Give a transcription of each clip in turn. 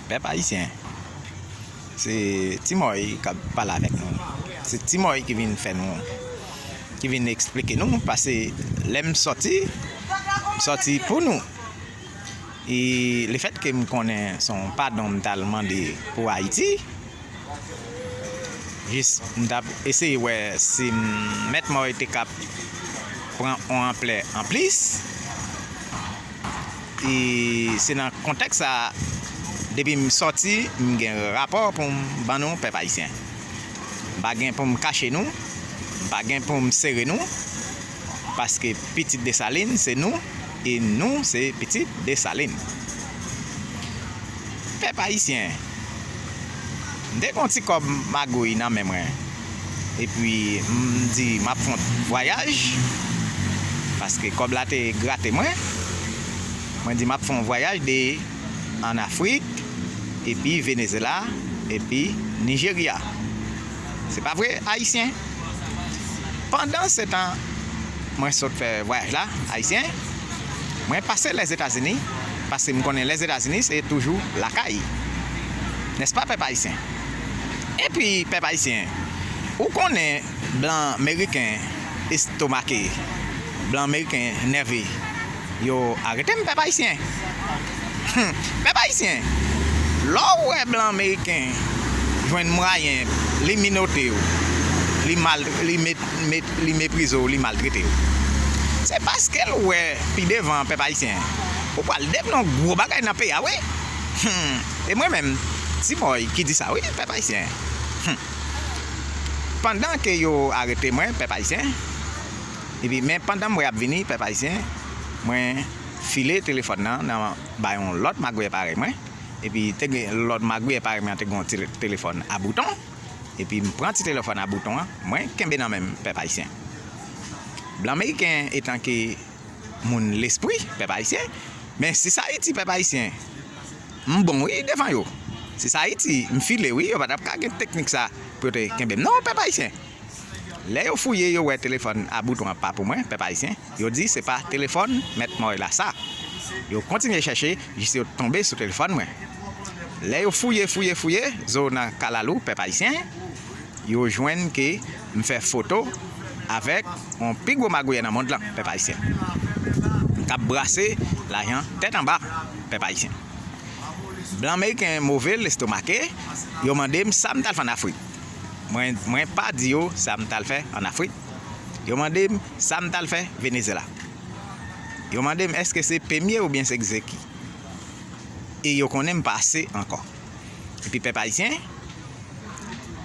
Pèp Ayisyen, se Ti Mòy k ap pale avèk nou. Se Ti Mòy ki vin fè nou, ki vin esplike nou pase lè m sòti, m sòti pou nou. E lefètke m konnen se yon padon m t al mande pou Ayiti, jis m t ap eseye wè si Mèt Mòy te ka pran yon anplè anplis. e se nan kontèks sa a depi m sòti m gen rapò pou m ban nou pèp ayisyen. M pa gen pou m kache nou, m pa gen pou m sere nou paske pitit Desalin se nou e nou se pitit Desalin. Pèp ayisyen, m te gen yon ti kòb magouy nan men mwen. epi m di m ap fon vwayaj paske kòb la te grate mwen mwen di m ap fon vwayaj de an afrik epi venezela epi nijerya se pa vre ayisyen pandan se tan mwen sot fè vwayaj la ayisyen mwen pase lèzetazini paske m konnen lèzetazini se toujou lakay nèspa pèp ayisyen. Epi pèp ayisyen ou konnen blan meriken estomake blan meriken nève yo aretem pèp ayisyen humm pèp ayisyen lè w wè blan meriken jwenn mwayen li minote w li mal li met met li meprize w li maltrete w se paske l wè pi devan pèp ayisyen ou pral dev n on gwo bagay nan peyi a wi humm. E mwen menm, T-Boy ki di sa wi pèp ayisyen. Hum. Pandan ke yo arete mwen pèp ayisyen, epi men pandan m wè yap vini pèp ayisyen, mwen file telefòn nan nan bay yon lòt magouyè parèy mwen, epi te gen lòt magouyè parèy mwen an te gen yon ti telefòn a bouton, epi m pran ti telefòn a bouton an mwen kenbe nan men m pèp ayisyen. Blan meriken etan ke. Moun lespri pèp ayisyen men si sa ayiti pèp ayisyen m bon wi devan yo si sa ayiti m file wi yo pa tap ka gen teknik sa pou yo te kenbem non pèp ayisyen lè yo fouye yo wè telefòn a bouton an pa pou mwen pèp ayisyen yo di se pa telefòn mèt mòy la sa yo kontinye chèche jis yo tonbe sou telefòn mwen lè yo fouye fouye fouye zo nan kalalou pèp ayisyen yo jwenn ke M fè foto avèk yon pi gwo magouyè nan mond lan pèp ayisyen kap brase lajan tèt anba pèp ayisyen blan meriken move lestomake yo mande m sa m tal fè an afrik mwen pa di yo sa m tal fè an afrik yo mande m sa m tal fè venezyela yo mande m eske se pemye oubyen se gzeki e yo konnen m pa ase ankò. epi pèp ayisyen,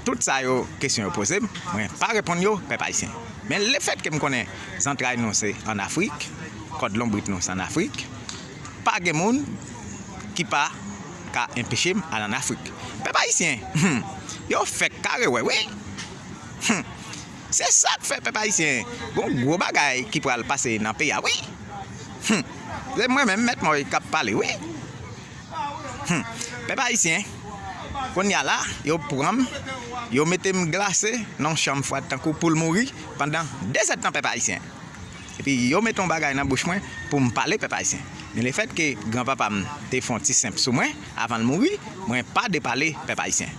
tout sa yo kesyon yo poze m, mwen pa reponn yo, pèp ayisyen. Men lefètke m konnen zantray nou se ann Afrik, kòd lonbrit nou se ann Afrik, pa gen moun ki pa ka enpeche m al ann Afrik. Pèp ayisyen, hum! Yo fèk kare wè wi! Hum! Se sa k fè pèp ayisyen, gen yon gwo bagay ki pral pase nan peyi a wi! Hum! Se mwen menm, Mèt Moy, k ap pale wi! Humm pèp ayisyen Konya la yo pranm yo metem glase nan yon chanm fwad tankou poul mouri pandan 2 zèd tan pèp ayisyen Epi yo met yon bagay nan bouch mwen poum pale pèp ayisyen Men le fèt ke gran papa m te fon ti senp sou mwen avanl mouri mwen pa depale pèp ayisyen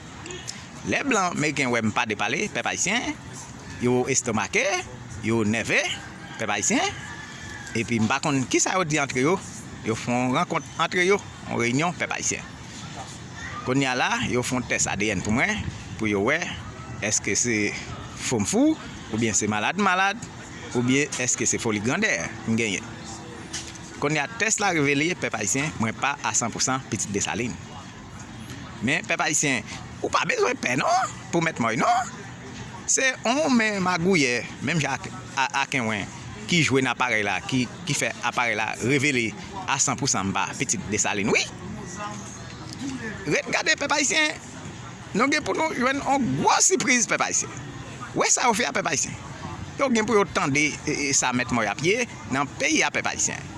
Lè blan meriken wèm pa depale pèp ayisyen yo estomake yo nève pèp ayisyen Epi m pa konn kisa yo di antre yo. Yo fè yon rankont antre yo, yon reyinyon pèp ayisyen. Kounye a la, yo fè yon tès adn pou mwen, pou yo wè èske se fou m fou, oubyen se malad m malad, oubyen èske se foli grandè m genyen. Kounye a tès la revele pèp ayisyen mwen pa a san pou san pitit Desalin. Men pèp ayisyen ou pa bezwen pè non pou mèt Moy non se yon men magouyè menm jan ak akenwen ki jwe nan aparèy la ki fè aparèy la revele a san pou san mpa pitit Desalin wi ret gade pèp ayisyen nou gen pou nou jwenn yon gwo sipriz pèp ayisyen wè sa yo fè a pèp ayisyen yo gen pou yo tande sa mèt Moy ap ye nan peyi a pèp ayisyen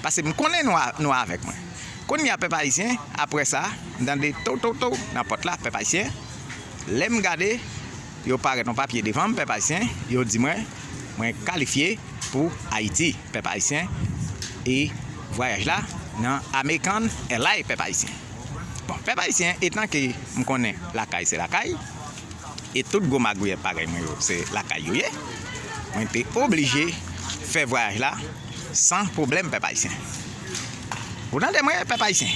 pase mkonnen nou avèk mwen. Kounye a pèp ayisyen aprè sa m tande tow tow tow nan pòt la pèp ayisyen lèm gade yo parèt yon papye devanm pèp ayisyen yo di mwen mwen kalifye pou ayiti pèp ayisyen e vwayaj la nan American Airline pèp ayisyen bon pèp ayisyen etan ke m konnen lakay se lakay e tout gwo magouyè parèy mwen yo se lakay yo ye mwen te oblije fè vwayaj la san pwoblèm pèp ayisyen. Ou tande mwen pèp ayisyen.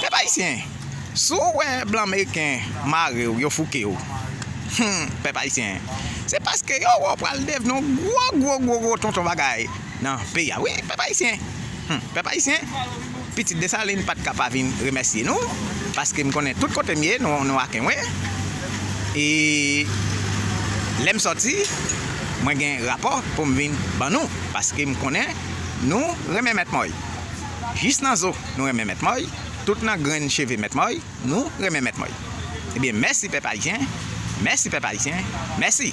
Pèp ayisyen si w wè blan meriken mare w yo fouke w humm pèp ayisyen se paske yo wè w pral devni yon gwo gwo gwo gwo tonton bagay nan peyi a wi pèp ayisyen humm pèp ayisyen pitit Desalin pat ka pa vin remèsye nou paske m konnen tout kote m ye nou ak mwen e lè m sòti mwen gen rapò pou m vin ban nou paske m konnen. Nou renmen mèt Mòy jis nan zo nou renmen mèt Mòy tout nan grenn cheve mèt Mòy nou renmen mèt Mòy ebyen mèsi pèp ayisyen mèsi pèp ayisyen mèsi.